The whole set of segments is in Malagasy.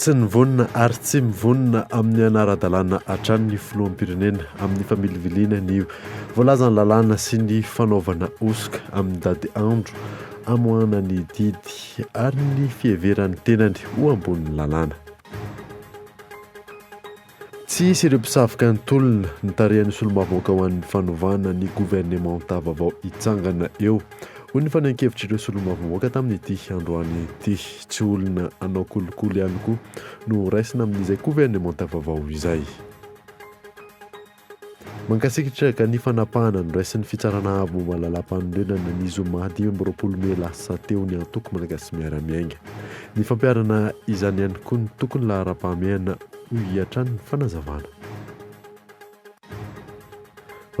Tsy nivonona ary tsy mivonona amin'ny hanara-dalàna hatrany ny filoham-pirenena amin'ny familiviliana ny voalazan'ny lalàna sy ny fanaovana hosoka amin'ny dady andro amoahana ny didy ary ny fiheveran'ny tenany ho ambonin'ny lalàna. Tsy hisy ireo mpisavika ny tolona. Ny tarehin'ny solombavambahoaka ho an'ny fanovana ny governemanta vaovao hitsangana eo, hoy ny fanehoan-kevitr'ireo solombavambahoaka tamin'ity androany ity. Tsy olona hanao kolikoly ihany koa no horaisina amin'izay governemanta vaovao izay. Mankasikitra ka ny fanapahana noraisin'ny Fitsarana Avo momba ny Lalàmpanorenana ny zoma dimy amby roapolo mey lasa teo ny antoko Malagasy Miara-Miainga. Ny fampiharana izany ihany koa no tokony laharam-pahamehana, hoy hatrany ny fanazavana.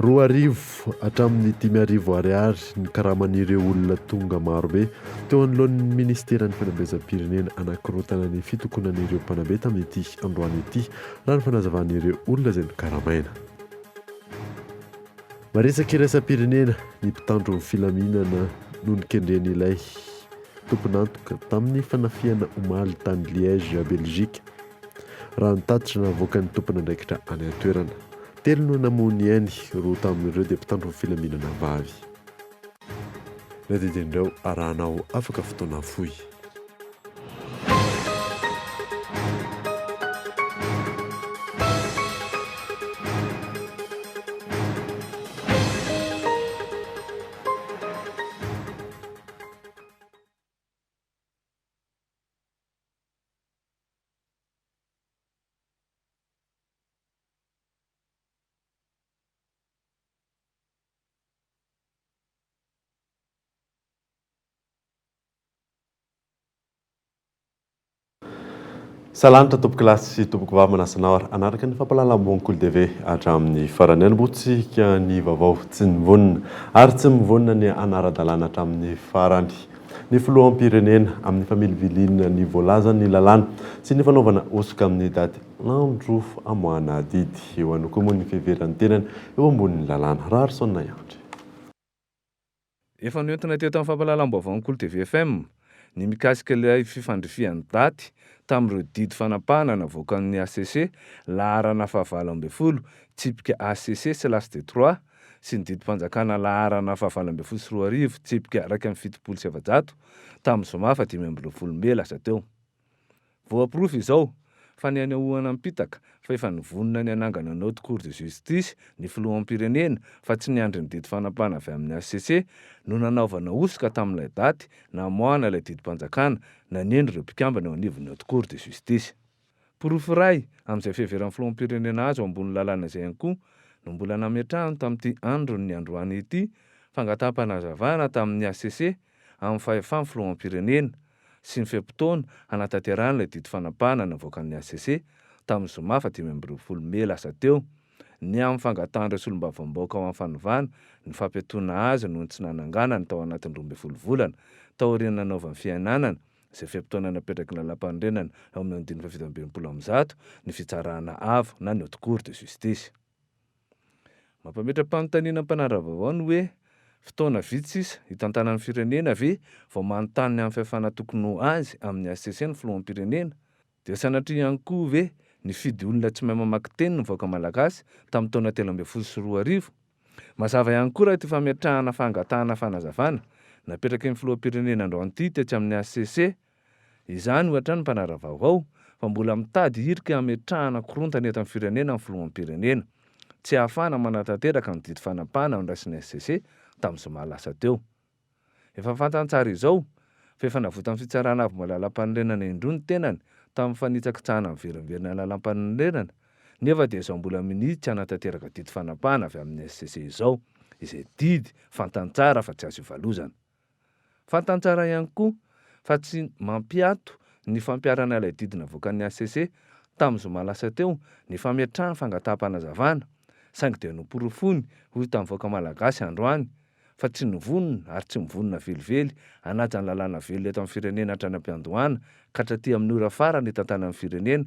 Roa arivo hatramin'ny dimy arivo Ariary ny karaman'ireo olona tonga marobe teo anoloan'ny Minisiteran'ny Fanabeazam-pirenena hanakorontana ny fitokonan'ireo mpanabe tamin'ity androany ity Raha ny fanazavan'ireo olona izay nokaramaina. Maresaka iraisam-pirenena ny mpitandro ny filaminana noho ny kendren'ilay tompon'antoka tamin'ny fanafihana omaly tany Liège, Belgique. Raha ny tatitra navoakan'ny tompon'andraikitra any an-toerana, telo no namoy ny ainy, roa tamin'ireo dia mpitandro ny filaminana vavy. Ny adidin'ireo arahanao afaka fotoana fohy. Salanitra tompoko lahy sy tompoko vavy manasanao ary hanaraka ny fampahalalam-boan'i Kolo TV hatramin'ny farany. Hanombohantsika ny vaovao tsy mivonona ary tsy mivonona ny hanara-dalàna hatramin'ny farany ny filoham-pirenena amin'ny familiviliana ny voalazan'ny lalàna sy ny fanaovana hosoka amin'ny daty Andro amoahana adidy. Eo ihany koa moa ny fiheveran'ny tenany eo ambonin'ny lalàna. Raharison Nahiandry. Efa noentina teto amin'ny fampahalalam-baovaon'ny Kolo TV FM ny mikasika ilay fifandrifian'ny daty tamin'ireo didy fanapahana navoakan'ny hcc, laharana fahavalo ambin'ny folo, tsipika hcc slash de trois, sy ny didim-panjakana laharana fahavalo ambin'ny folo sy roa arivo, tsipika iraika amby fitopolo sy efajato, tamin'ny zoma fahadimy amby roapolo mey lasa teo. Voaporofo izao fa ny hanehoana am-pitaka fa efa nivonona ny hanangana ny Haute Cour de Justice ny filoham-pirenena fa tsy niandry ny didy fanapahana avy amin'ny hcc no nanaovana hosoka tamin'ilay daty namoahana ilay didim-panjakana naneno ireo mpikambana eo anivon'ny Haute Cour de Justice. Porofo iray amin'izay fiheveran'ny filoham-pirenena azy ho ambony lalàna izay ihany koa no mbola nametrahany tamin'ity andron'ny androany ity fangataham-panazavana tamin'ny hcc amin'ny fahefan'ny filoham-pirenena sy ny fe-potoana hanatanterahana ilay didy fanapahana navoakan'ny hcc tamin'ny zoma faha dimy amby roapolo mey lasa teo ny amin'ny fangatahan'ireo solombavambahoaka ho amin'ny fanovana ny fampiatoana azy noho ny tsy nananganany tao anatin'ny roa ambin'ny folo volana taorian'ny nanaovany fiainanana izay fe-potoana napetraky ny lalàmpanorenana eo amin'ny andininy fahafito amby enimpolo amby zato ny fitsarana avo na ny haute cour de justice. Mampametra-panontaniana ny mpanara-baovao ny hoe, fotoana vitsy sisa hitantanan'ny firenena ve vao manontany ny amin'ny fihafana tokony ho azy amin'ny hcc ny filoham-pirenena? Dia sanatria ihany koa ve nifidy olona tsy mahay mamaky teny ny vahoaka malagasy tamin'ny taona telo ambin'ny folo sy roa arivo? Mazava ihany koa raha ity fametrahana fangatahana fanazavana napetraky ny filoham-pirenena androany ity tetsy amin'ny hcc, Izany ohatra ny mpanara-vaovao fa mbola mitady hirika hametrahana korontana eto amin'ny firenena ny filoham-pirenena. Tsy ahafahana manatanteraka ny didy fanapahana noraisin'ny HCC tamin'ny zoma lasa teo. Efa fantany tsara izao fa efa navotan'ny Fitsarana Avo Malalam-panorenana indroa ny tenany tamin'ny fanitsakitsahana miverimberina lalam-panorenana nefa dia izao mbola minia tsy hanatanteraka didy fanapahana avy amin'ny HCC izao izay didy fantany tsara fa tsy azo ivalozana. Fantany tsara ihany koa fa tsy mampiato ny fampiharana ilay didy navoakan'ny hcc tamin'ny zoma lasa teo ny fametrahany fangataham-panazavana, saingy dia noporofony ho hitan'ny vahoaka malagasy androany fa tsy nivonona ary tsy mivonona velively hanaja ny lalàna velona eto amin'ny firenena hatrany am-piandohana ka hatraty amin'ny ora farany hitantanan'ny firenena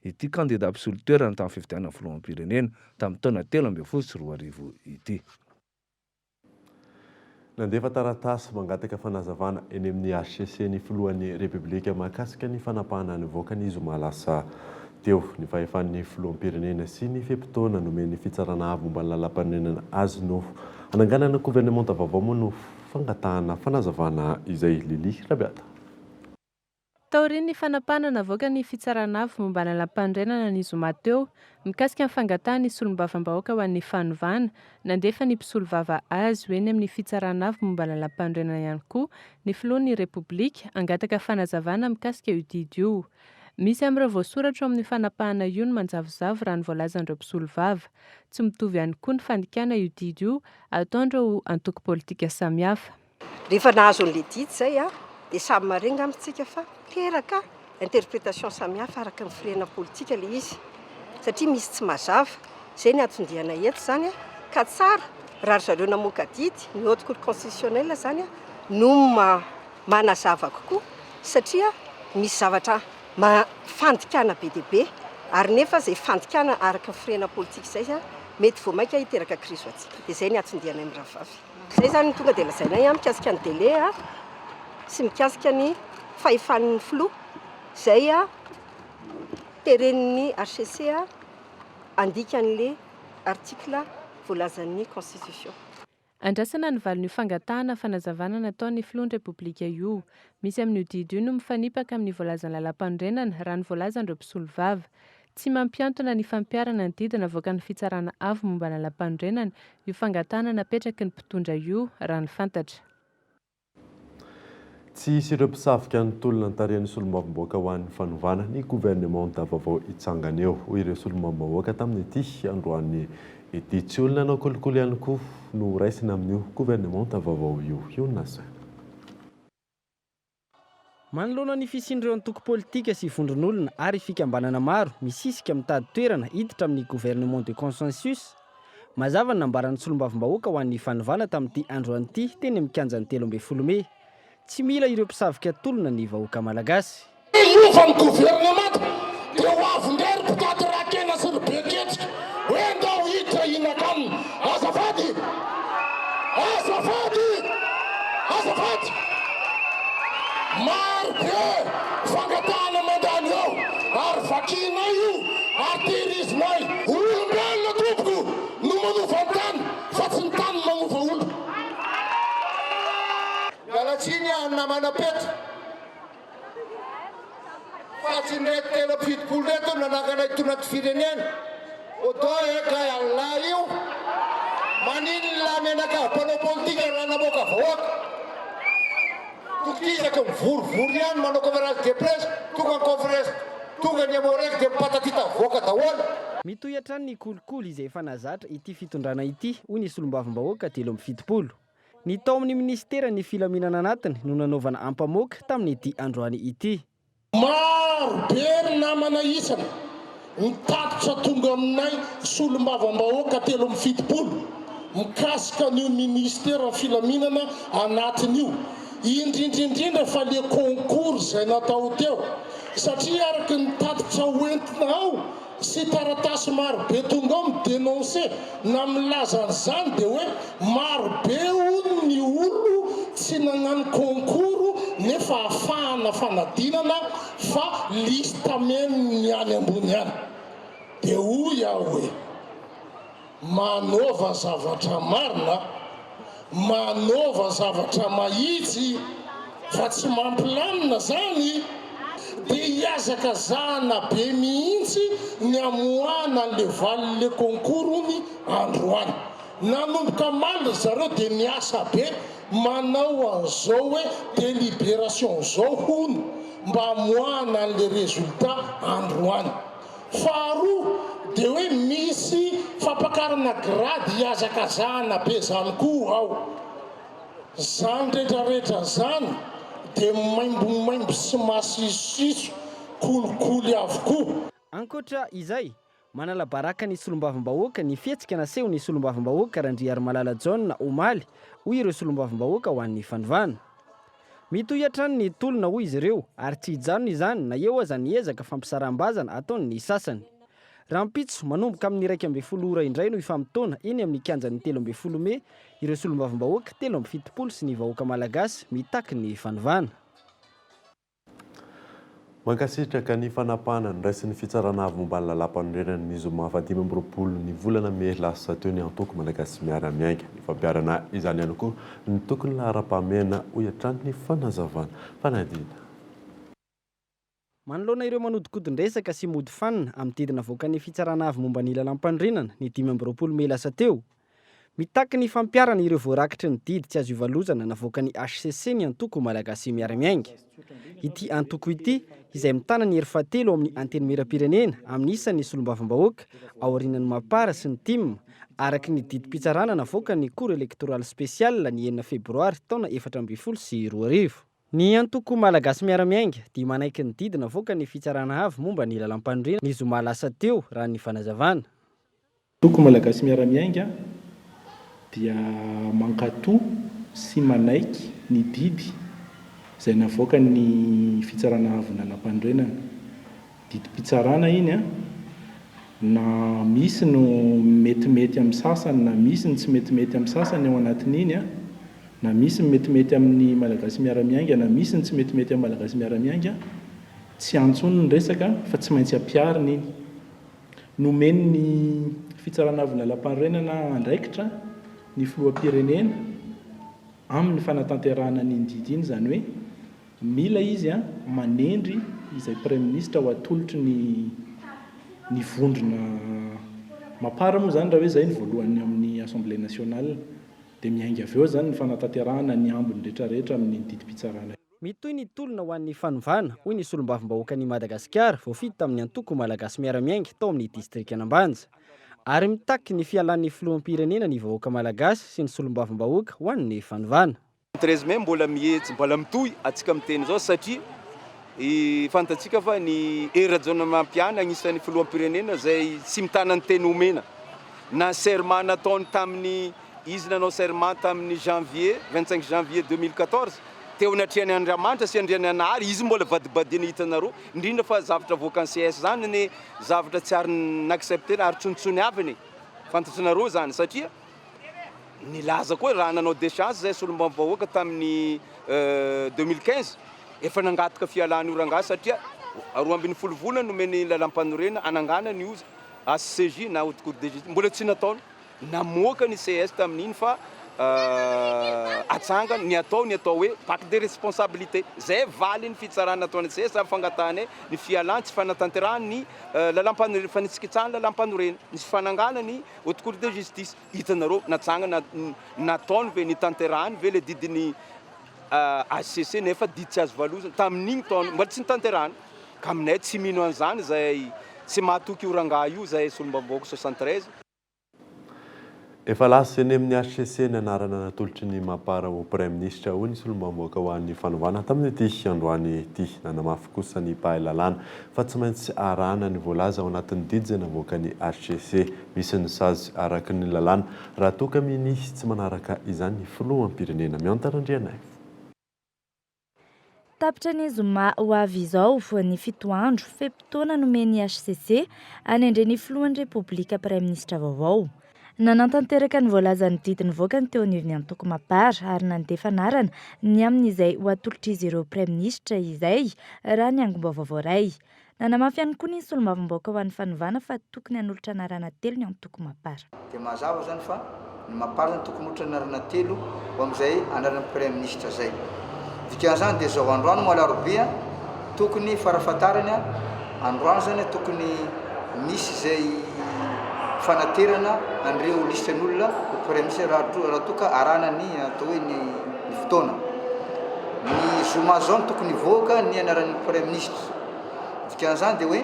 ity kandida mpisolo toerana tamin'ny fifidianana filoham-pirenena tamin'ny taona telo ambin'ny folo sy roa arivo ity. Nandefa taratasy mangataka fanazavana eny amin'ny hcc ny filohan'ny Repoblika mahakasika ny fanapahana nivoaka ny zoma lasa teo ny fahefan'ny filoham-pirenena sy ny fe-potoana nomen'ny Fitsarana Avo momba ny Lalàmpanorenana azy no hananganana governemanta vaovao moa no fangatahana fanazavana izay, Lilie Rabeata. Taorian'ny fanapahana navoaka ny Fitsarana Avo momba ny Lalàmpanorenana ny zoma teo, mikasika ny fangatahan'ny Solombavambahoaka ho an'ny fanovana, nandefa ny mpisolovava azy ho eny amin'ny Fitsarana Avo momba ny Lalàmpanorenana ihany koa ny Filohan'ny Repoblika hangataka fanazavana mikasika io didy io. Misy amin'ireo voasoratra eo amin'io fanapahana io no manjavozavo raha ny voalazan'ireo mpisolovava. Tsy mitovy ihany koa ny fandikana io didy io ataon'ireo antoko politika samihafa. Rehefa nahazo an'ilay didy izay dia samy marin ngamba isika fa teraka interprétation samihafa araka ny firehana politika ilay izy satria misy tsy mazava. Izay ny anton-dianay eto izany ka tsara raha ry zareo namoaka didy, ny Haute Cour constitutionnelle izany no manazava kokoa satria misy zavatra fandikana be dia be ary nefa izay fandikana araka ny firehana politika izay mety vao mainka hiteraka krizy ho antsika. Dia izay ny anton-dianay mirahavavy. Izay izany no tonga dia lazainay an, mikasika ny délai an, sy mikasika ny fahefan'ny filoha izay teren'ny hcc handika an'ilay article voalazan'ny constitution. Andrasana ny valin'io fangatahana fanazavana nataon'ny filohan'ny Repoblika io. Misy amin'io didy io no mifanipaka amin'ny voalazan'ny Lalàmpanorenana, raha ny voalazan'ireo mpisolovava. Tsy mampiantona ny fampiharana ny didy navoakan'ny Fitsarana Avo momba ny Lalàmpanorenana io fangatahana napetraky ny mpitondra io, raha ny fantatra. Tsy hisy ireo mpisavika ny tolona notarihan'ny Solombavambahoaka ho an'ny fanovana ny governemanta vaovao hitsangana eo, hoy ireo Solombavambahoaka tamin'ity androany ity. Tsy olona hanao kolikoly ihany koa no ho raisina amin'io governemanta vaovao io, hoy ny Nasr. Manoloana ny fisian'ireo antoko politika sy vondron'olona ary fikambanana maro misisika mitady toerana hiditra amin'ny gouvernement de consensus, mazava ny nambaran'ny solombavambahoaka ho an'ny fanovana tamin'ity androany ity teny amin'ny kianjan'ny telo ambin'ny folo mey, Tsy mila ireo mpisavika tolona ny vahoaka malagasy. Hiova ny governemanta Dia ho avy indray ry mpitady ra-kena sy ry be kejika hoe ndao hiditra hihinaka aminy. Azafady! Azafady! Azafady! Maro be fangatahana mandalo eo ary vakianay io ary tehirizinay. Olombelona tompoko no manova ny tany fa tsy ny tany no manova olona. Miala tsiny an namana Pety. Fa tsy ireto telo amby fitopolo ireto no nanangana itony anti-firenena Odon et Gay Allah io. Maninona ny menaka mpanao politika raha namoaka vahoaka? Tokisaky mivorivory ihany manao conférence de presse, tonga ny conference, tonga ny Emmo-Rec dia mipatatita avoaka daholo. Mitohy hatrany ny kolikoly izay efa nahazatra ity fitondrana ity, hoy ny solombavambahoaka telo amby fitopolo. Ny tao amin'ny minisiteran'ny filaminana anatiny no nanaovana ampamoaka tamin'ity androany ity. Maro be ny namana isany ny tatitra tonga aminay solombavambahoaka telo amby fitopolo mikasika an'io minisiteran'ny filaminana anatiny io, indrindra indrindra fa le concours izay natao teo satria araka ny tatitra hoentina ao sy taratasy maro be tonga ao mi denonce na milaza an'izany dia hoe maro be hono ny olo tsy nagnano concours nefa afahana fanadinana fa liste memo ny any ambony any dia hoy aho hoe Manaova zavatra marina, manaova zavatra mahitsy fa tsy mampilamina zany de hiazaka zahana be mihitsy ny hamoahana anle valiny le concours ony androany. Nanomboka maly ry zareo de miasa be manao anzao hoe deliberation zao hono mba hamoahana anle resultat androany. Faharoa dia hoe misy fampakarana grady hihazakazahana be izany koa ao. Izany retraretra izany dia maimbomaimbo sy masisosiso kolikoly avokoa. Ankoatra izay, manala baraka ny solombavambahoaka ny fihetsika nasehon'ny solombavambahoaka Randriarimalala John omaly, hoy ireo solombavambahoaka ho an'ny fanovana. Mitohy hatrany ny tolona hoy izy ireo ary tsy hijanona izany na eo aza ny ezaka fampisaraham-bazana ataon'ny sasany. Rahampitso, manomboka amin'ny iraika ambin'ny folo ora indray no hifamotoana eny amin'ny kianjan'ny telo ambin'ny folo mey ireo solombavambahoaka telo amby fitopolo sy ny vahoaka malagasy mitaky ny fanovana. Mankasitraka ny fanapahana noraisin'ny Fitsarana Avo momba ny Lalàmpanorenana ny zoma fahadimy amby roapolo ny volana mey lasa teo ny Antoko Malagasy Miara-Miainga. Ifampiharana izany ihany koa ny tokony laharam-pahamehana, hoy hatrany ny fanazavana. Fanadihadiana. Manoloana ireo manodikodin-dresaka sy mody fanina amin'ny didy navoakan'ny Fitsarana Avo momba ny Lalàmpanorenana ny dimy amby roapolo mey lasa teo, Mitaky ny fampiharana ireo voarakitry ny didy tsy azo ivalozana navoakan'ny hcc ny antoko Malagasy Miara-Miainga. Ity antoko ity, izay mitana ny hery fahatelo ao amin'ny Antenimierampirenena amin'ny isan'ny solombavambahoaka aorianan'ny Mapar sy ny Tim, araka ny didim-pitsarana navoakan'ny Cour électorale spéciale ny enina febroary taona efatra ambin'ny folo sy roa arivo. Ny antoko Malagasy Miara-Miainga dia manaiky ny didy navoakan'ny Fitsarana Avo momba ny Lalàmpanorenana ny zoma lasa teo, raha ny fanazavana. Toko malagasy miara-miainga dia mankato sy manaiky ny didy izay navoakan'ny Fitsarana Avo Lalam-panorenana. Didim-pitsarana iny an! Na misy no metimety amin'ny sasany na misy ny tsy metimety amin'ny sasany ao anatin'iny an! Na misy ny metimety amin'ny malagasy miara-miainga na misy ny tsy metimety amin'ny malagasy miara-miainga, tsy antso ny resaka fa tsy maintsy ampiharina iny. Nomeny ny Fitsarana Avon'ny Lalàmpanorenana andraikitra ny Filoham-pirenena amin'ny fanatanterahana an'iny didy iny, izany hoe mila izy manendry izay Praiminisitra ho atolotry ny ny vondrona mapar moa izany raha hoe izay ny voalohany amin'ny Assemblée Nationale dia miainga avy eo izany ny fanatanterahana ny ambiny rehetrarehetra amin'iny didim-pitsarana iny. Mitohy ny tolona ho an'ny fanovana, hoy ny solombavambahoakan'i Madagasikara voafidy tamin'ny antoko Malagasy Miara-Miainga tao amin'ny distrikan'Ambanja. Ary mitaky ny fialan'ny filoham-pirenena ny vahoaka Malagasy sy ny solombavambahoaka ho an'ny fanovana. Treize mai mbola miheja, mbola mitohy antsika miteny izao satria fantatsika fa ny Hery Rajaonarimampianina anisan'ny filoham-pirenena izay tsy mitana ny teny omena na ny serment nataony tamin'ny. Izy nanao serment tamin'ny janvier, vingt cinq janvier deux mille quatorze, teo anatrehan'ny Andriamanitra sy Andriananahary, izy mbola vadibadiny hitanareo, indrindra fa zavatra avoakan'ny ces zany anie zavatra tsy ary n'accepter ary tsontsony havany e, fantatranareo zany satria nilaza koa raha nanao decence zahay solombavambahoaka tamin'ny deux mille quinze efa nangataka fialan'io rangahy satria roa ambin'ny folo volana nomeny lalam-panorena hanangana ny HCJ na haute cour de justice, mbola tsy nataony. Namoaka ny ces tamin'iny fa atsangany ny atao ny atao hoe bac de responsabilité. Izay valin'ny fitsarana nataon'ny ces amin'ny fangatahany ny fialany tsy fanatanterahany ny lalampanoren fanitsakitsahany ny lalampanoren ny fanangana ny haute cour de justice. Hitanareo natsangana nataony ve nitanterahany ve ilay didin'ny HCC nefa didy tsy azo valozina tamin'iny taona mbola tsy nitanterahana. Ka aminay tsy mino an'izany izay tsy mahatoky io rangahy io izay solombavambahoaka soixante treize. Efa lasa eny amin'ny hcc ny anarana natolotry ny Mapar ho praiminisitra, hoy ny solombavambahoaka ho an'ny fanovana tamin'ity androany ity. Nanamafy kosa ny mpahay lalàna fa tsy maintsy arahana ny voalaza ao anatin'ny didy izay navoakan'ny hcc. Misy ny sazy araka ny lalàna raha toa ka minia tsy manaraka izany ny filoham-pirenena. Miantara Andrianaivo. Tapitra ny zoma ho avy izao ny fito andro fe-potoana nomen'ny hcc hanendrena ny filohan'ny Repoblika Praiminisitra vaovao. Nanatanteraka ny voalazan'ny didy nivoaka ny teo anivon'ny antoko Mapar ary nandefa anarana ny amin'izay ho atolotr'izy ireo Praiminisitra izay, raha ny angom-baovao voaray. Nanamafy ihany koa ny solombavambahoaka ho an'ny fanovana fa tokony hanolotra anarana telo ny antoko Mapar. Dia mazava izany fa ny Mapar izany tokony holotra anarana telo ho amin'izay anaran'ny Praiminisitra izay. Dikan'izany dia izao, androany moa alarobia, tokony farafahatarany androany izany tokony misy izay fanaterana an'ireo lisitra'n'olona ho Praiminisitra raha toa ka arahana ny atao hoe ny fotoana. Ny zoma izao no tokony hivoaka ny anaran'ny Praiminisitra. Ny dikan'izany dia hoe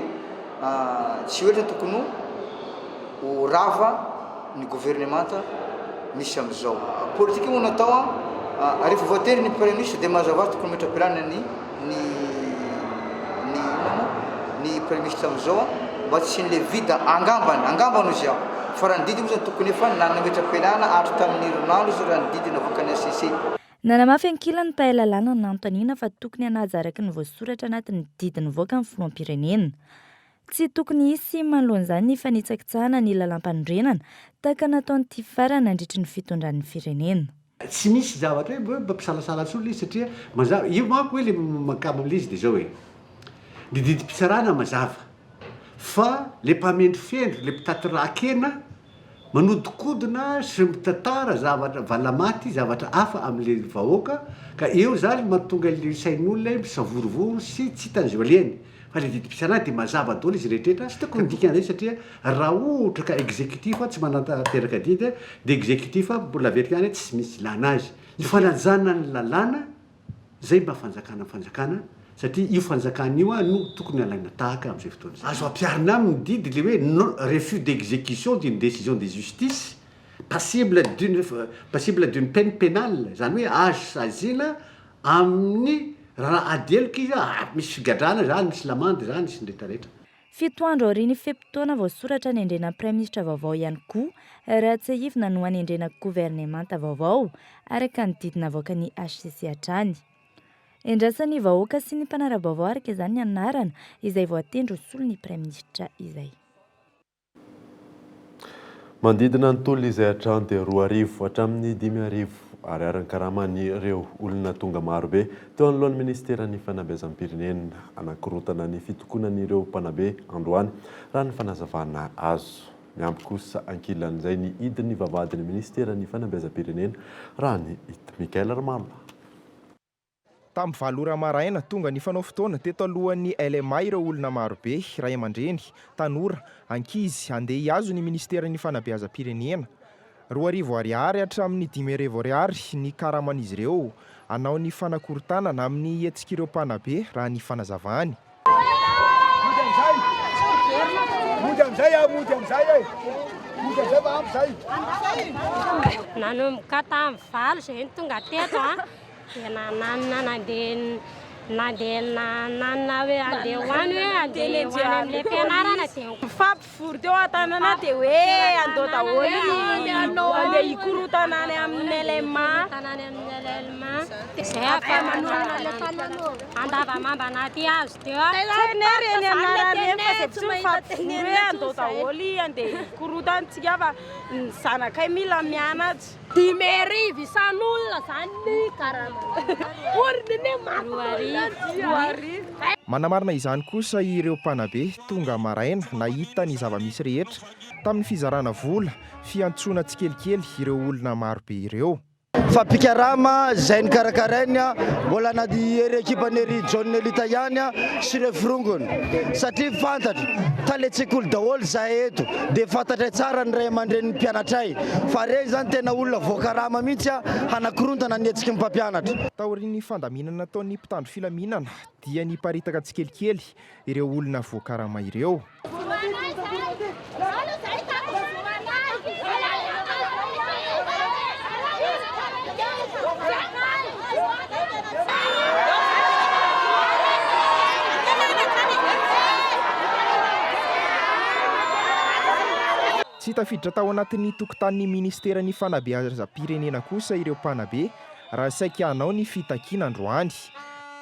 tsy oetra tokony ho rava ny governemanta misy amin'izao. Politika moa natao an, rehefa voatery ny praiminisitra dia mazava azy tokony hometra-pialana ny ny ny inona moa ny praiminisitra amin'izao an, mba tsy hisian'ilay vide angambany, angambany hoy aho. Fa raha ny didy moa izany tokony efa nanana metra-pialana hatry tamin'ny herinandro izay raha ny didy navoakan'ny HCC. Nanamafy ankilany ny mpahay lalàna nanontaniana fa tokony hanaja araka ny voasoratra anatin'ny didy nivoaka ny filoham-pirenena. Tsy tokony hisy sim manoloana izany ny fanitsakitsahana ny lalàmpanorenana tahaka nataon'ny TFR nandritry ny fitondrany ny firenena. Tsy misy zavatra hoe mampisalasala intsony ilay izy satria mazava. Io manko hoe ilay mahakamo an'ilay izy dia izao e, ny didim-pitsarana mazava fa ilay mpamendrofendro, ilay mpitaty rà-kena, Manodikodina sy mitantara zavatra valamaty zavatra hafa amle vahoaka ka eo zany matonga le sain'olona misavorovoro sy tsy hitany ze ho alehany fa le didim-pitsarana de mazava daholo izy rehetrretra tsy tokony midika anzay satria ra ohatra ka executif tsy manantanteraka didy de executif mbola averiko ihany hoe tsisy misy ilana azy ny fanajana ny lalàna Izay mba fanjakana fanjakana satria io fanjakana io no tokony alaina tahaka amin'izay fotoana izay. Azo ampiharina aminy didy le hoe non refus d'execution d'une décision de justice passible d'une passible d'une peine pénale izany hoe azo saziana amin'ny raha ady heloka izy ary misy figadrana izany, misy lamandy izany sy ny rehetra rehetra. Fito andro aorian'ny fe-potoana voasoratra anendrena praiminisitra vaovao ihany koa raha tsiahivina no hanendrena governemanta vaovao, araka ny didy navoakan'ny hcc hatrany. Endrasan'ny vahoaka sy ny mpanara-baovao araka izany ny anarana izay voatendry ho solon'ny praiminisitra izay. Manodidina ny tolona izay hatrany dia roa arivo hatramin'ny dimy arivo Ariary ny karaman'ireo olona tonga marobe teo anoloan'ny minisiteran'ny fanabeazam-pirenena hanakorontana ny fitokonan'ireo mpanabe androany, raha ny fanazavana azo. Miampy kosa ankilan'izay ny hidin'ny vavahadin'ny minisiteran'ny fanabeazam-pirenena, raha ny hita. Michael Ramallah. Tamin'ny valo ora maraina, tonga nifanao fotoana teto alohan'ny LMA ireo olona marobe, ray aman-dreny, tanora, ankizy, handeha hihazo ny Ministeran'ny Fanabeazam-pirenena. Roa arivo Ariary hatramin'ny dimy arivo Ariary ny karaman'izy ireo, hanao ny fanakorontanana amin'ny hetsik'ireo mpanabe, raha ny fanazavany. Nanomboka tamin'ny valo izay ny tonga teto an, dia nananina nandeha nandeha nananina hoe handeha ho any hoe handeha ho any amin'ilay fianarana dia. Vory teo an-tanana dia hoe andeha daholo ny andeha hikorontana any amin'ny LMA. Tanàna amin'ny LMA. Izay afaka manolona ilay fanao andavamamba anaty hazo teo. Tena ry eny anarany eny fa dia tsy mifampivoro hoe andeha daholo andeha hikorontana antsika fa ny zanakay mila mianatra. Dimy arivo isan'olona zany ny karama. Roa arivo. Manamarina izany kosa ireo mpanabe tonga maraina nahita ny zava-misy rehetra tamin'ny fizarana vola fiantsoana tsikelikely ireo olona marobe ireo. Fa mpikarama izay nokarakarainy mbola na dia ery ekipan'i Hery John Nelita ihany sy ireo forongony satria fantatro tale tsekoly daholo izahay eto. dia fantatray tsara ny ray aman-drenin'ny mpianatray fa ireny izany tena olona voakarama mihitsy hanakorontana ny hetsiky ny mpampianatra. Taorian'ny fandaminana nataon'ny mpitandro filaminana dia niparitaka tsikelikely ireo olona voakarama ireo. Tsy tafiditra tao anatin'ny tokontanin'ny Ministeran'ny Fanabeazam-pirenena kosa ireo mpanabe raha saika hanao ny fitakiana androany.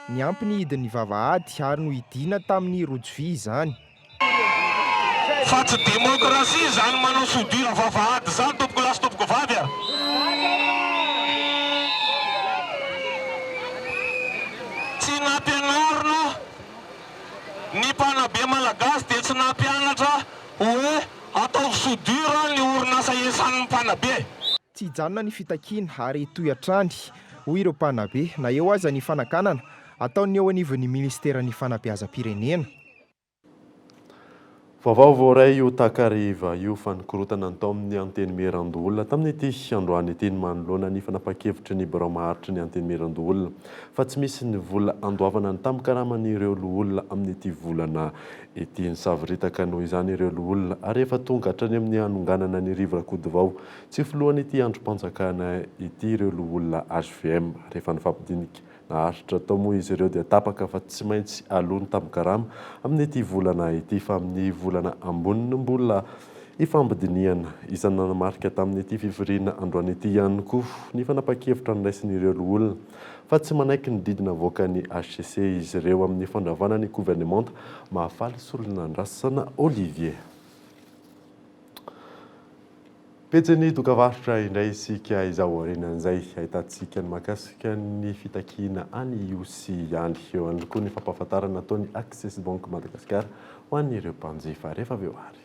Niampy ny hidin'ny vavahady ary nohidiana tamin'ny rojo vy izany. Fa tsy demokrasia izany manao soudure vavahady izany tompoko lahy sy tompoko vavy a! Tsy nampianarina ny mpanabe malagasy dia tsy nampianatra hoe ataovy soudure ny orinasa hiasan'ny mpanabe. Tsy hijanona ny fitakiana ary hitohy hatrany, hoy ireo mpanabe, na eo aza ny fanakanana ataon'ny eo anivon'ny minisiteran'ny fanabeazam-pirenena. Vaovao voaray io takariva io fa nikorontana ny tao amin'ny Antenimierandoholona tamin'ity androany ity ny manoloana ny fanapahan-kevitry ny birao maharitry ny Antenimierandoholona fa tsy misy ny vola handoavana ny tambin-karaman'ireo loholona amin'ity volana ity. Nisavoritaka noho izany ireo loholona ary efa tonga hatrany amin'ny hanonganana an'i Rivo Rakotovao tsy ho filohan'ity andrim-panjakana ity ireo loholona hvm rehefa nifampidinika Naharitra tao moa izy ireo dia tapaka fa tsy maintsy aloa ny tambikarama amin'ity volana ity fa amin'ny volana ambony no mbola hifamdinihana. Isan'ny nanamarika tamin'ity fivoriana androany ity ihany koa ny fanapahan-kevitra noraisin'ireo loholona fa tsy manaiky ny didy navoakan'ny hcc izy ireo amin'ny fandravana ny governemanta Mahafaly Solonandrasana Olivier. Pejin'ny dokam-barotra indray isika izao aorianan'izay ahitantsika ny mahakasika ny fitakiana an'i Ihosy ihany. Eo ihany koa ny fampahafantarana nataon'i Access Bank Madagascar ho an'ireo mpanjifa. Rehefa avy eo àry.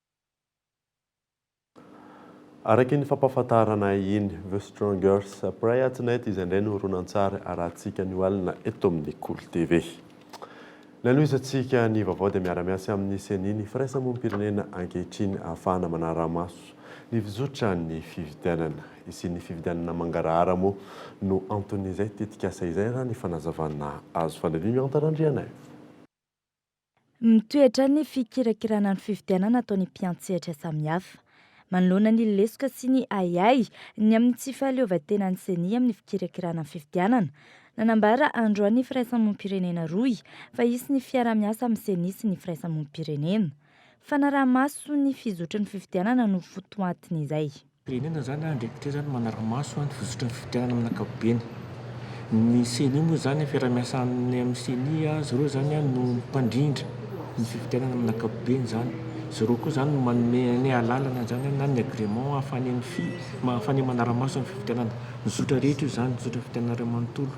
Araka iny fampahafantarana iny, The Strongers Prayer Tonight izay indray no horonantsary arahantsika anio alina eto amin'ny Kolo TV. Ny hanohizantsika ny vaovao dia miara-miasa amin'ny Ceni ny firaisamonim-pirenena ankehitriny ahafahana manara-maso ny fizotran'ny fifidianana. Hisian'ny fifidianana mangarahara moa no anton'izay tetikasa izay raha ny fanazavana azo. Fandalin'i Miantanandrianaivo. Mitoetra ny fikirakirana ny fifidianana ataon'ny mpiantsehatra samihafa. Manoloana ny lesoka sy ny ahiahy ny amin'ny tsy fahaleovantenan'ny Ceni amin'ny fikirakirana ny fifidianana, nanambara androany ny firaisamonim-pirenena rohy fa hisy ny fiaraha-miasa amin'ny Ceni sy ny firaisamonim-pirenena. Fanaraha-maso ny fizotry ny fifidianana no fotoatin'izay. firenena izany na andraikitra izany manara-maso ny fizotran'ny fifidianana amin'ny ankapobeny. Ny ceni moa izany ny fiaraha-miasa aminy amin'ny ceni izy ireo izany no mpandrindra ny fifidianana amin'ny ankapobeny izany. Izy ireo koa izany no manome ny alalana izany na ny agrément ahafahany mifi- ahafahany manara-maso ny fifidianana. Ny zotra rehetra io izany, ny zotra fifidianana iray manontolo.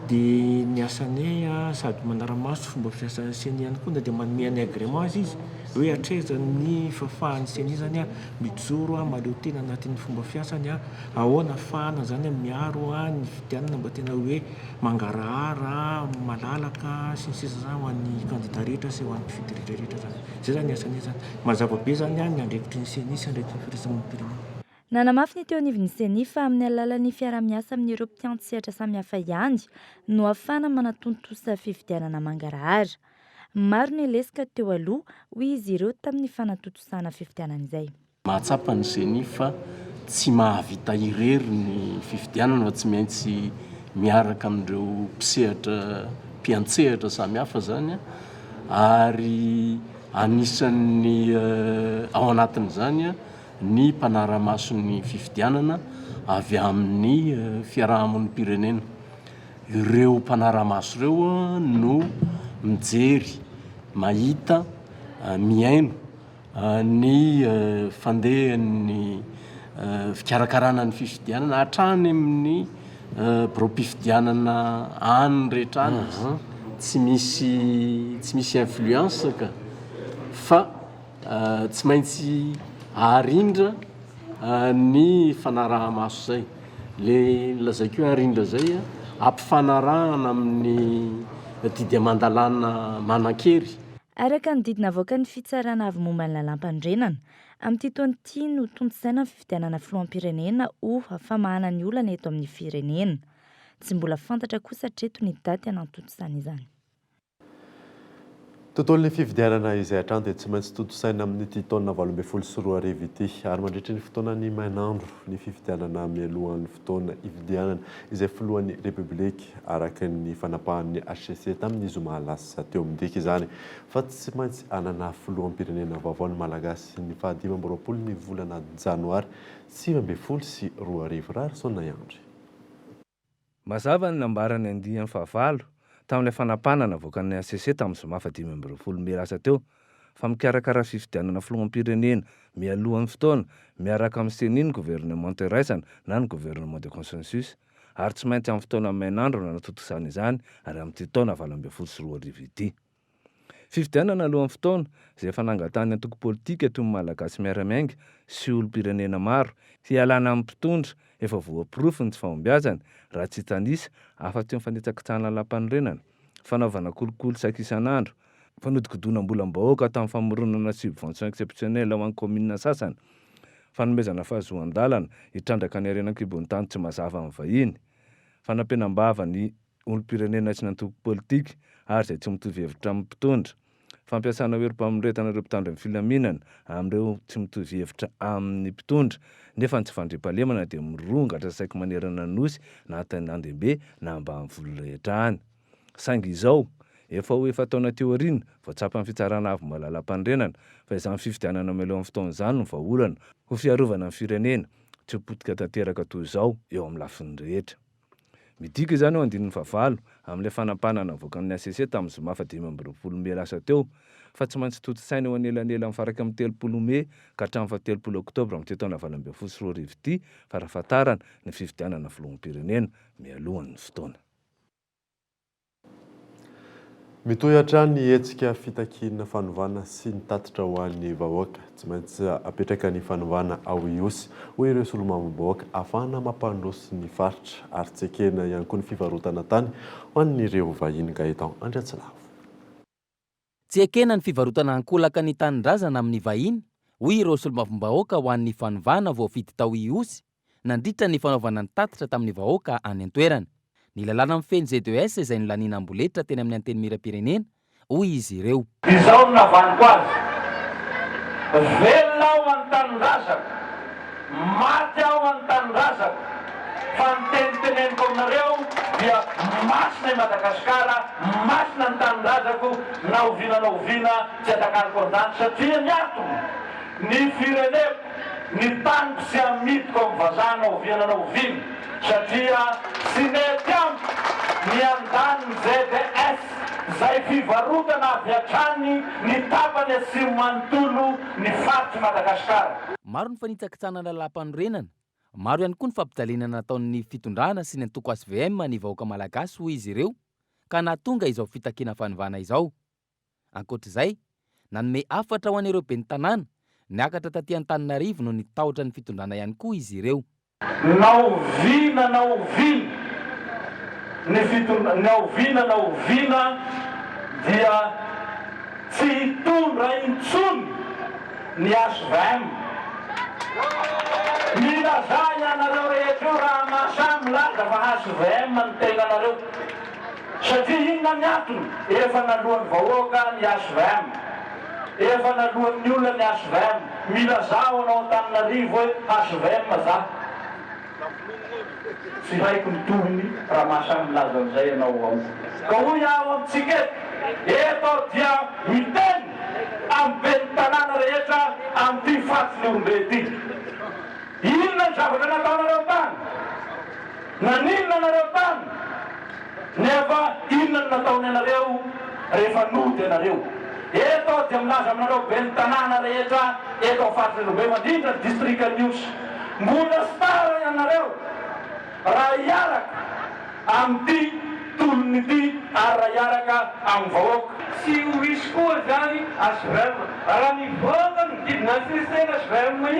Dia ny asany sady manara-maso fomba fiasan'ny ceni ihany koa na dia manome ny agrément aza izy hoe hatraiza ny fahafahan'ny ceni izany. Mijoro aho mahaleo tena anatin'ny fomba fiasany aho. Ahoana afahana izany miaro ahy ny fidianana mba tena hoe mangarahara, malalaka sy ny sisa izany ho an'ny kandida rehetra sy ho an'ny mpifidy rehetrarehetra izany. Izay izany ny asany izy izany. Mazava be izany ny andraikitry ny Ceni sy andraikitry ny Firaisamonim-pirenena. Nanamafy ny teo anivon'ny Ceni fa amin'ny alalan'ny fiaraha-miasa amin'ireo mpitantseatra samihafa ihany no ahafahana manatontosa fifidianana mangarahara. Maro ny lesoka teo aloha, hoy izy ireo tamin'ny fanatontosana fifidianana izay. Mahatsapa ny Ceni fa tsy mahavita irery ny fifidianana fa tsy maintsy miaraka amin'ireo mpisehatra mpiantsehatra samihafa izany ary anisan'ny ao anatin'izany ny mpanara-maso ny fifidianana avy amin'ny fiarahamonim-pirenena. Ireo mpanara-maso ireo no mijery, mahita, mihaino ny fandehan'ny fikarakarana ny fifidianana hatrany amin'ny biraom-pifidianana any rehetra any. Tsy misy tsy misy influence ka fa tsy maintsy arindra ny fanaraha-maso izay. Le lazaiko hoe ary indrazay a, ampifanarahana amin'ny didy aman-dalàna manan-kery. Araka ny didy navoakan'ny Fitsarana Avo momba ny Lalàmpanorenana, amin'ity taona ity no tontosaina ny fifidianana filoham-pirenena ho famahana ny olana eto amin'ny firenena. Tsy mbola fantatra kosa hatreto ny daty hanantontosana izany. Tontolon'ny fifidianana izay hatrany dia tsy maintsy tontosaina amin'ity taona valo ambin'ny folo sy roa arivo ity ary mandritry ny fotoanan'ny mainandro ny fifidianana mialohan'ny fotoana hifidianana izay filohan'ny Repoblika araka ny fanapahan'ny hcc tamin'ny zoma lasa teo. Midika izany fa tsy maintsy hanana filoham-pirenena vaovao ny Malagasy ny faha dimy amby roapolo ny volana janoary sivy ambin'ny folo sy roa arivo. Raharison Naiandry. Mazava ny nambaran'ny andiany fahavalo tamin'ilay fanapahana navoakan'ny hcc tamin'ny zoma fahadimy amby roapolo mey lasa teo, fa mikarakara fifidianana filoham-pirenena mialohan'ny fotoana miaraka amin'ny ceni ny governemanta iraisana na ny gouvernement de consensus, ary tsy maintsy amin'ny fotoana mainandro no hanatontosana izany, ary amin'ity taona valo ambin'ny folo sy roa arivo ity. Fifidianana alohan'ny fotoana, izay efa nangatahan'ny antoko politika toy ny Malagasy Miara-Miainga sy olom-pirenena maro, hialana amin'ny mpitondra efa voaporofo ny tsy fahombiazany, raha tsy hitanisa afa-tsy ny fanitsakitsahana lam-panorenana, fanaovana kolikoly saika isan'andro, fanodikodinam-bolam-bahoaka tamin'ny famoronana subvention exceptionnelle ho an'ny kaominina sasany, fanomezana fahazoan-dalana hitrandraka ny harena an-kibon'ny tany tsy mazava amin'ny vahiny, fanampenam-bava ny olom-pirenena sy ny antoko politika ary izay tsy mitovy hevitra amin'ny mpitondra. Fampiasana herim-pamoretana ireo mpitandro ny filaminana amin'ireo tsy mitovy hevitra amin'ny mpitondra nefa ny tsy fandriampahalemana dia mirongatra saiky manerana ny Nosy na tany an-dehibe na ambanivolo rehetra any. Saingy izao, efa ho efa-taona teo aoriana vao tsapan'ny Fitsarana Avo Malalam-panorenana fa izany fifidianana mahaleo amin'ny fotoana izany no vahaolana ho fiarovana ny firenena tsy ho potika tanteraka toy izao eo amin'ny lafiny rehetra. Midika izany ao andininy fahavalo, amin'ilay fanapahana navoaka amin'ny hcc tamin'ny zoma fahadimy amby roapolo mey lasa teo, fa tsy maintsy tontosaina eo anelanelan'ny faran'ny telopolo mey ka hatramin'ny fahatelopolo oktobra amin'ity taona valo ambin'ny folo sy roa arivo ity, farafahatarana, ny fifidianana filoham-pirenena, mialohan'ny fotoana. Mitohy hatrany ny hetsika fitakiana fanovana sy ny tatitra ho an'ny vahoaka. Tsy maintsy apetraka ny fanovana ao Ihosy, hoy ireo solombavambahoaka, ahafahana mampandroso ny faritra ary tsy ekena ihany koa ny fivarotana tany ho an'ireo vahiny. Gaëtan Andriatsilavo. Tsy ekena ny fivarotana ankolaka ny tanindrazana amin'ny vahiny, hoy ireo solombavambahoaka ho an'ny fanovana voafidy tao Ihosy, nandritra ny fanaovana ny tatitra tamin'ny vahoaka any an-toerana. Ny lalàna mifehy ny ZES izay nolaniana amboletra teny amin'ny Antenimierampirenena, hoy izy ireo. Izao no navaniko azy, velona aho ho an'ny tanindrazako. Maty aho an-tanindrazako fa ny teniteneniko aminareo dia masina i Madagasikara, masina ny tanindrazako na oviana na oviana tsy atakariko an-danitra satria ny antony, ny fireneko, ny taniko tsy amidiko amin'ny vazaha na oviana na oviana satria tsy mety amiko ny handany ny ZS izay fivarotana avy hatrany ny tapany atsimo manontolo ny faritr'i Madagasikara. Maro ny fanitsakitsahana lalàmpanorenana. Maro ihany koa ny fampijalinana nataon'ny fitondrana sy ny antoko HVM ny vahoaka malagasy hoy izy ireo ka nahatonga izao fitakiana fanovana izao. Ankoatra izay, nanome hafatra ho an'ireo ben'ny tanàna niakatra taty Antananarivo noho ny tahotra ny fitondrana ihany koa izy ireo. Na oviana na oviana ny fitondra, na oviana na oviana dia tsy hitondra intsony ny HVM. Milazà ianareo rehetra io raha mahasahy milaza fa HVM ny tenanareo. Satria inona ny antony? Efa naloan'ny vahoaka ny HVM, efa naloan'ny olona ny HVM, mila zaho anao Antananarivo hoe HVM za. Tsy haiko ny tohiny raha maha samy milaza an'izay ianao ao. Ka hoy aho amintsika eto, eto aho dia miteny amin'ny ben'ny tanàna rehetra amin'ity fatin'Ihorombe ity. Inona ny zavatra nataonareo tany? Naninona nareo tany nefa inona no nataony anareo rehefa nody anareo? Eto aho dia milaza aminareo ben'ny tanàna rehetra eto amin'ny faritry Anjombe fa indrindra ny distrika Anivosy, mbola tsy tara ianareo raha hiaraka amin'ity tolona ity ary raha hiaraka amin'ny vahoaka. Tsy ho hisy koa izany HVM. Raha nivoaka ny didin'antsesena HVM-y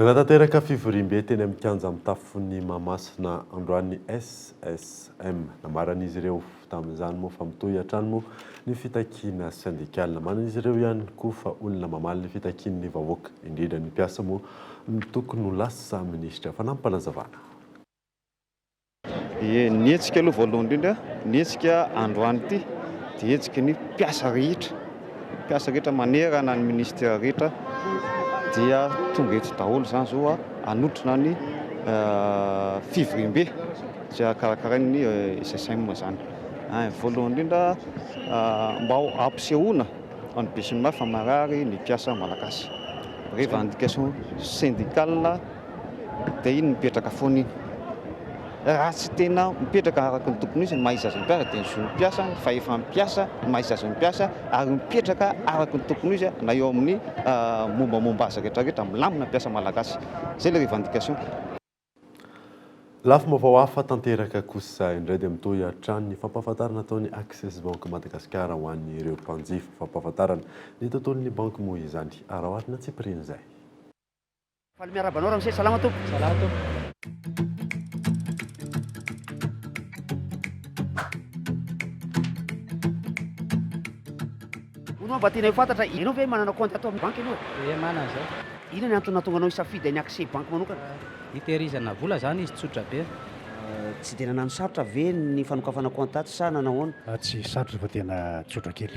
Nanatanteraka fivoriambe teny amin'ny kianja mitafon'i Mahamasina androany ny SSM. Namaran'izy ireo tamin'izany moa fa mitohy hatrany moa ny fitakiana sendikaly. Namarin'izy ireo ihany koa fa olona mamaly ny fitakian'ny vahoaka, indrindra ny mpiasa moa no tokony ho lasa minisitra. Fanampim-panazavana. Ie, ny hetsika aloha voalohany indrindra, ny hetsika androany ity dia hetsiky ny mpiasa rehetra, mpiasa rehetra manerana ny ministera rehetra dia tonga eto daholo izany izao hanotrona ny fivoriambe izay hakarakarain'ny SSM izany. Voalohany indrindra mba ho ampisehoana ho an'ny besinimaro fa marary ny mpiasa malagasy, revendication syndicale. Dia iny mipetraka foana iny. Raha tsy tena mipetraka araka ny tokony ho izy ny maha izy azy ny mpiasa dia ny zon'ny mpiasa, ny fahefan'ny mpiasa, ny maha izy azy ny mpiasa ary mipetraka araka ny tokony ho izy na eo amin'ny mombamomba azy rehetra rehetra. Milamina ny mpiasa malagasy. Izay ilay revendication. Lafim-baovao hafa tanteraka kosa indray dia mitohy hatrany ny fampahafantarana ataon'ny Access Banque Madagascar ho an'ireo mpanjifa. Fampahafantarana ny tontolon'ny banky moa izany, araho ary natsipirian'izay. Faly miarahaba anao Ramose, salama tompoko. Salama tompoko. Hono mba tianay ho fantatra, ianao ve manana compte ato amin'ny banky ianao e? Ie manana izao. Inona ny antony nahatonga anao hisafidy ny accès banky manokana? Hitehirizana vola izany izy tsotra be. Tsy dia nanano sarotra ve ny fanokafana compte atsy sa nanao ahoana? Atsy sarotra fa tena tsotra kely.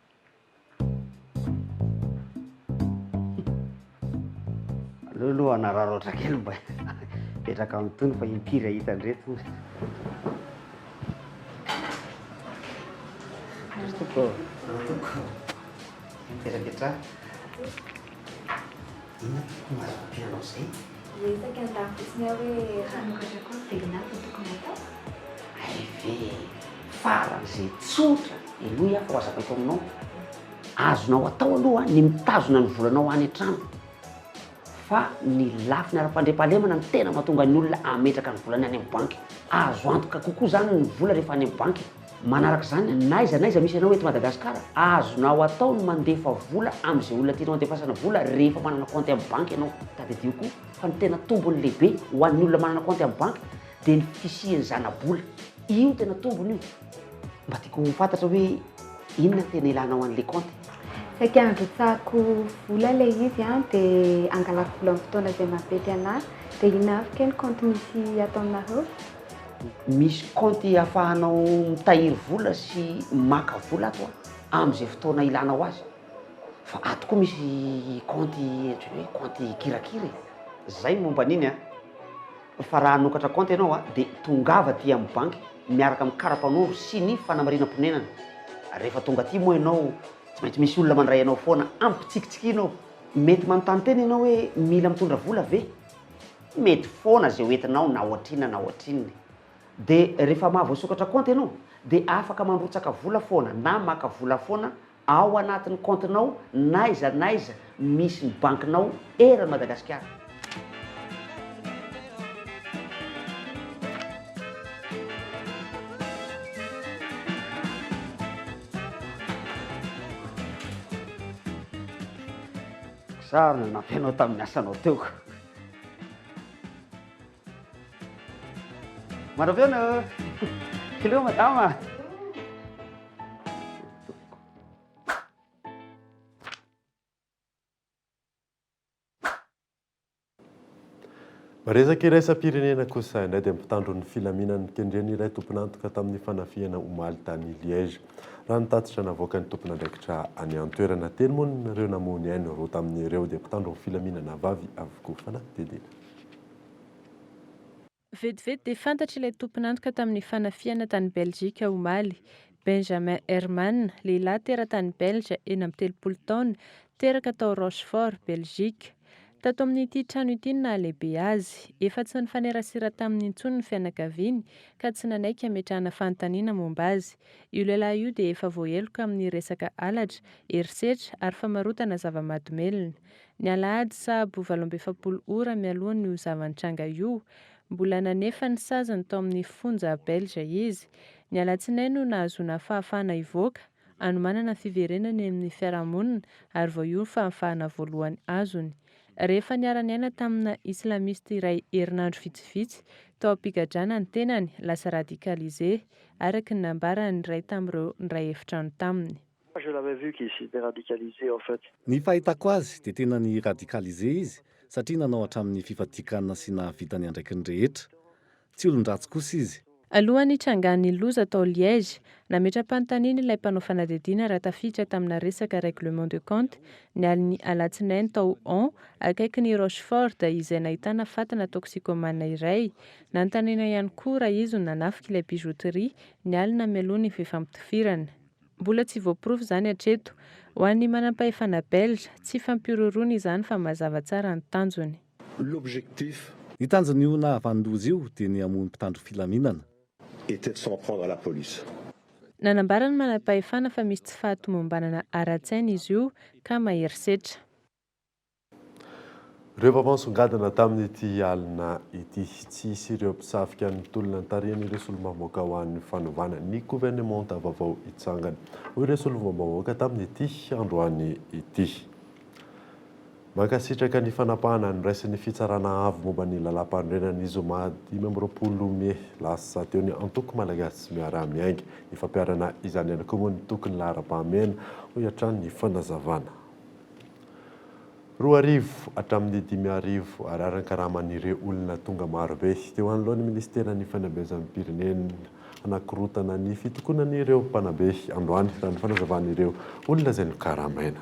Aleo aloha hanararaotra kely mba hipetraka amin'ny tony fa impiry hahita an'ireto. Tompoko. Mipetrapetraha. Inona ty fomba azo ampianao izay? Resaky an'lah fotsiny aho hoe hanoratra cours de l'INAH vao tokony hatao? RV, faran'izay tsotra henoy aho fa ho azavaiko aminao. Azonao atao aloha ny mitazona ny volanao any an-trano fa ny lafiny ara-pandriampahalemana no tena mahatonga ny olona hametraka ny volany any amin'ny banky. Azo antoka kokoa izany ny vola rehefa any amin'ny banky. Manaraka izany, n'aiza n'aiza misy anao eto Madagasikara, azonao atao ny mandefa vola amin'izay olona tianao andefasana vola rehefa manana kaonty amin'ny banky ianao. Tadidio koa fa ny tena tombony lehibe ho an'ny olona manana kaonty amin'ny banky dia ny fisian'ny zana-bola. Io tena tombony io. Mba tiako ho fantatra hoe inona ny tena ilanao an'ilay kaonty? Saika androtsahako vola ilay izy an, dia angalako vola amin'ny fotoana izay mampety anà. Dia inona avy kay ny kaonty misy ato aminareo? Misy kaonty afahanao mitahiry vola sy maka vola ato a, amin'izay fotoana ilanao azy. Fa ato koa misy kaonty ohatran'ny hoe kaonty kirakira e. Zay ny momba an'iny a. Fa raha hanokatra kaonty ianao a, dia tongava aty amin'ny banky miaraka amin'ny kara-panondro sy ny fanamarinam-ponenana. Rehefa tonga aty moa ianao, tsy maintsy misy olona mandray anao foana, ampitsikitsikiana ao. Mety manontany tena ianao hoe mila mitondra vola ve? Mety foana izay hoentinao na ohatrinona na ohatrinona e! Dia rehefa mahavoasokatra kaonty ianao dia afaka mandrotsaka vola foana na maka vola foana ao anatin'ny kaontinao n'aiza n'aiza misy ny bankinao eran'i Madagasikara. Sa nanampy anao tamin'ny asanao teo? Manao feona eo. Kileo madama. Resaka iraisam-pirenena kosa indray dia mpitandro ny filaminan'ny kendreny iray tompon'antoka tamin'ny fanafihana omaly tany Liège. Raha ny tatitra navoakan'ny tompon'andraikitra any an-toerana teny moa ny ireo namoha ny ainy roa tamin'ireo dia mpitandro ny filaminana vavy avokoa. Fanadihadiana. Vetivety dia fantatra ilay tompon'antoka tamin'ny fanafihana tany Belzika omaly. Benjamin Herman, lehilahy teratany Belge, enina amby telopolo taona, teraka tao Rochefort, Belzika. Tato amin'ity trano ity ny nahalehibe azy. Efa tsy nifanerasera taminy intsony ny fianakaviany ka tsy nanaiky hametrahana fanontaniana momba azy. Io lehilahy io dia efa voaheloka amin'ny resaka halatra, herisetra ary famarotana zava-mahadomelina. Ny alahady sahabo valo amby efapolo ora mialohan'io zava-nitranga io, mbola nanefa ny saziny tao amin'ny fonja belge izy. Ny alatsinainy no nahazoana fahafahana hivoaka. anomanana ny fiverenany eny amin'ny fiarahamonina ary vao io ny fahafahana voalohany azony. Rehefa niara-niaina tamina islamiste iray herinandro vitsivitsy tao am-pigadrana ny tenany, lasa radicalisé, araka ny nambaran'ny iray tamin'ireo niray efitrano taminy. Moi je l'avais vu qu'il s'était radicalisé en fait. Ny fahitako azy dia tena ni-radicalisé izy satria nanao hatramin'ny fifadian-kanina sy nahavita ny andraikiny rehetra. Tsy olon-dratsy kosa izy. Alohan'ny nitrangan'ny loza tao Liège, nametra-panontaniana ilay mpanao fanadihadiana raha tafiditra tamina resaka règlement de compte, ny alin'ny Alatsinainy tao Hon, akaikin'i Rochefort, izay nahitana fatana toxicomane iray. Nanontaniana ihany koa raha izy no nanafika ilay bijouterie, ny alina mialoha ny fifampitifirana. Mbola tsy voaporofo izany hatreto. Ho an'ny manampahefana belge, tsy fampihorohoroana izany fa mazava tsara ny tanjony. l'objectif. Ny tanjon'io nahavanon-doza io dia ny hamono mpitandro filaminana. Était de s'en prendre à la police. Nanambara ny manampahefana fa misy tsy fahatomombanana ara-tsaina izy io ka mahery setra. Ireo vava nisongadina tamin'ity alina ity. Tsy hisy ireo mpisafika ny tolona nitarihan'ireo solombavambahoaka ho an'ny fanovana ny governemanta vaovao hitsangana, hoy ireo solombavambahoaka tamin'ity androany ity. Mankasitraka ny fanapahana noraisin'ny Fitsarana Avo momba ny Lalàmpanorenana ny zoma dimy amby roapolo mey lasa teo ny Antoko Malagasy Miara-Miainga. Ifampiharana izany ihany koa moa ny toky ny laharam-pahamehana, hoy hatrany ny fanazavana. Roa arivo hatramin'ny dimy arivo Ariary ny karaman'ireo olona tonga marobe teo anoloan'ny Minisiteran'ny Fanabezam-pirenena hanakorontana ny fitokonan'ireo mpanabe androany, raha ny fanazavan'ireo olona izay nokaramaina.